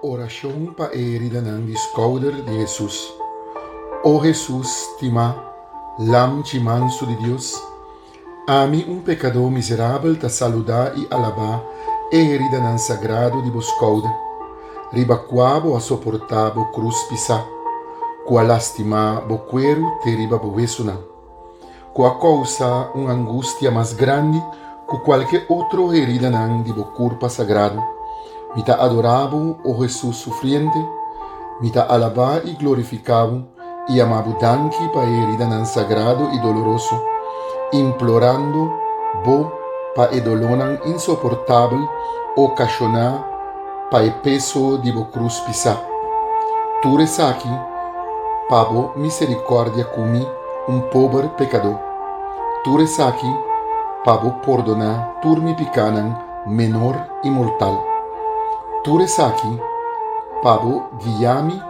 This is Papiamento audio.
Orashon pa e eridanan di skouder di Hesus. O Hesus stimá Lamchi mansu di Dios, ami un pekadó miserabel ta saludá i alabá e eridanan sagrado di bo skouder, riba kua bo a soportá bo krus pisá, ku a lastimá bo kueru te riba bo wesunan. ku a kousa un angustia mas grandi ku kualke otro heridanan di bo kurpa sagrado. Mi ta adorá bo, o Hesus sufriente, mi ta alabá i glorifiká bo i yamá bo danki pa e heridanan sagrado i doloroso, implorando bo pa e dolónan insoportabel okashoná, Pa e peso di bo cruz pisá. Tur esaki pa bo misericordia cu mi, un pober pecadó. Tur esaki pa bo pordoná tur mi picánan menor y mortal. Tur esaki pa bo guiami.